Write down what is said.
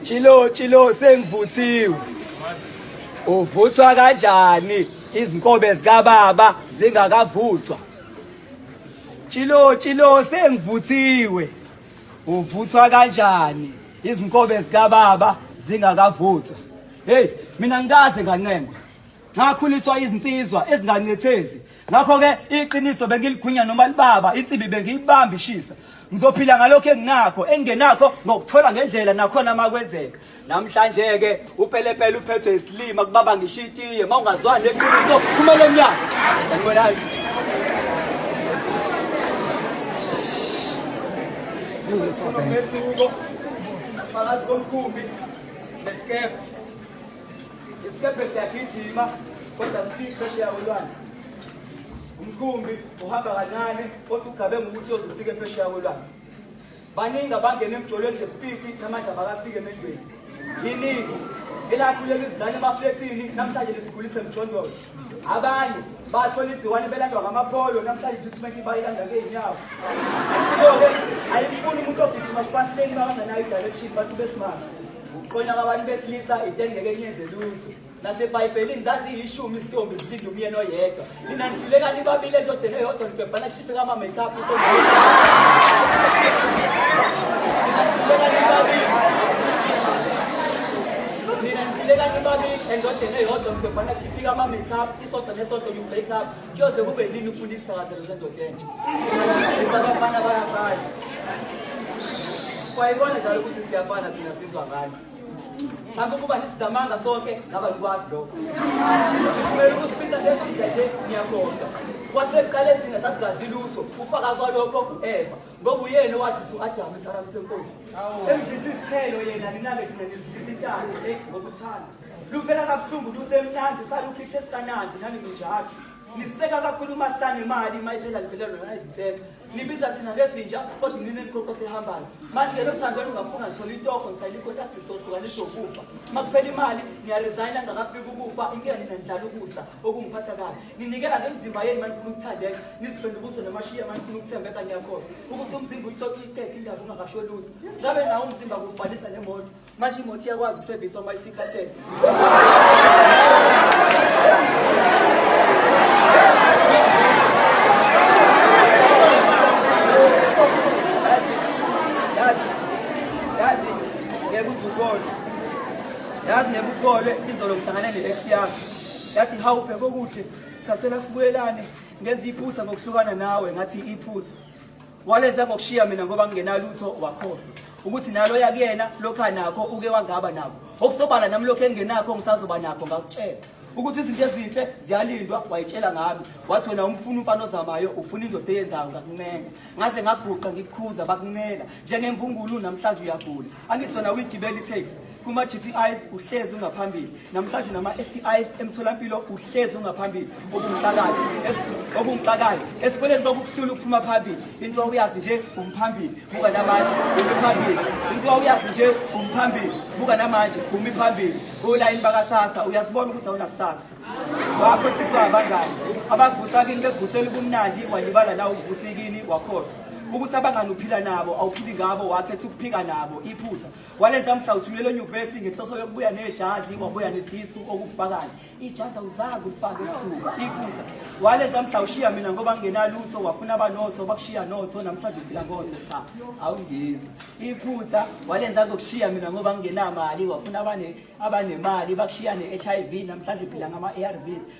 Chilo chilo sengivuthiwe. Uvuthwa kanjani izinkobe zika baba zingakavuthwa? Chilo chilo sengivuthiwe. Uvuthwa kanjani izinkobe zika baba zingakavuthwa? Hey, mina ngikaze ngancengwa. ngakhuliswa izinsizwa ezingancethezi ngakho-ke iqiniso bengiligwinya noma libaba insimbi bengiyibamba ishisa ngizophila ngalokho enginakho engingenakho ngokuthola ngendlela nakhona uma kwenzeka namhlanje-ke upelepele uphethwe isilima kubaba ngisho itiye uma ungazwani neqiniso kumele nyaka sanibonani phakathi komkhumbi nesikebhe Isikebhe siyagijima kodwa sifike phesheya kolwandle. Umkhumbi uhamba kancane kodwa ugabe ngokuthi uzofika phesheya kolwandle. Baningi abangena emjolweni ngesipiti namanje abakafike emejweni. Yiningi elakhuleka izingane emaflethini namhlanje lisikhulise emjondolo. Abanye bathola igciwane belandwa ngamapholo namhlanje treatment bayilanda ngeenyawo. Ayifuni umuntu ogijima sipasiteni bakangenayo i-direction bantu besimame. Ukuqonya kwabantu besilisa into engeke niyenze lutho. NaseBhayibhelini zaziyishumi izitombi zilinde umyeni oyedwa. Nina nihluleka nibabile endodeni eyodwa nibhebhana khiphe kama-makeup Nina nihluleka nibabili endodeni eyodwa nibhebhana khiphe kama-makeup isodwa nesodwa you-break up Kuyoze kube nini ufuna isithakazelo sendoda entsha? Ithi abafana bayafana. Kwayibona njalo ukuthi siyafana thina sizwa ngani. Mhlawumbe ukuba nisizamanga sonke ngaba likwazi lokho. Kumele ukuthi phinda lezinja nje niyabonga. Kwasekuqaleni thina sasingazi lutho, ufakazi walokho ngu-Eva ngoba uyena owadlisa u-Adamu isaramu senkosi. Emdlisa izithelo yena ninake thina nizidlisa intando eh, ngokuthanda. Luvela kabuhlungu lusemnandi usalukhihle sikanandi nani ninjalo. Niseka kakhulu uma sane imali uma iphela livela lona izinseka. Nibiza thina ngezinja kodwa nini nikhokothe ehambayo. Manje lelo thando lungafuna ngithola itoko ngisayilikho tathi sohlukaniswa ukufa. Uma kuphela imali ngiyaresigna ngakafika ukufa inkinga nina nidlala ukusa okungiphatha kabi. Ninikela ngemzimba yenu manje ufuna ukuthandeka nizifende ubuso namashiya manje ufuna ukuthembeka ngiyakhohlwa ukuthi umzimba uyixoxa iqede indaba ungakasho lutho. Ngabe nawo umzimba kufanisa nemoto manje imoto iyakwazi ukusevisa uma isikhathele yazi nebukholwe izolo ngihlangane ne-ex yami yathi hawu bheke okuhle sacela sibuyelane ngenza iphutha ngokuhlukana nawe ngathi iphutha walenza ngokushiya mina ngoba ngingenalutho wakhohlwa ukuthi nalo yakuyena lokha nakho uke wangaba nako okusobala nami lokho engenakho ngisazoba nakho ngakutshela ukuthi izinto ezinhle ziyalindwa wayitshela ngami wathi wena umfuna umfana ozamayo ufuna indoda eyenzayo ngakuncenga ngaze ngaguqa ngikukhuza bakuncela njengembungulu namhlanje uyagula angithi wena uyigibela i-taxi Kuma-GTIs uhlezi ungaphambili namhlanje nama-STIs emtholampilo uhlezi ungaphambili okungixakayo okungixakayo esikoleni kwakukuhlula ukuphuma phambili into wawuyazi nje umphambili buka namanje umi phambili into wawuyazi nje umphambili buka namanje umi phambili olayini bakasasa uyazibona ukuthi awunakusasa wakhohliswa abangani abavusa kini begusela ubumnandi walibala la uvusikini wakhohlwa ukuthi abangani uphila nabo awuphili ngabo wakhetha ukuphika nabo iphutha walenza mhla uthunyelwe enyuvesi ngenhloso yokubuya nejazi wabuya nesisu okufakazi ijazi awuzange ulifake ebusuku iphutha walenza mhla ushiya mina ngoba ngingenalutho wafuna abanotho bakushiya notho namhlanje uphila ngotho cha awungizi iphutha walenza ngokushiya mina ngoba ngingenamali wafuna abanemali bakushiya ne-h i v namhlanje uphila ngama-a r vs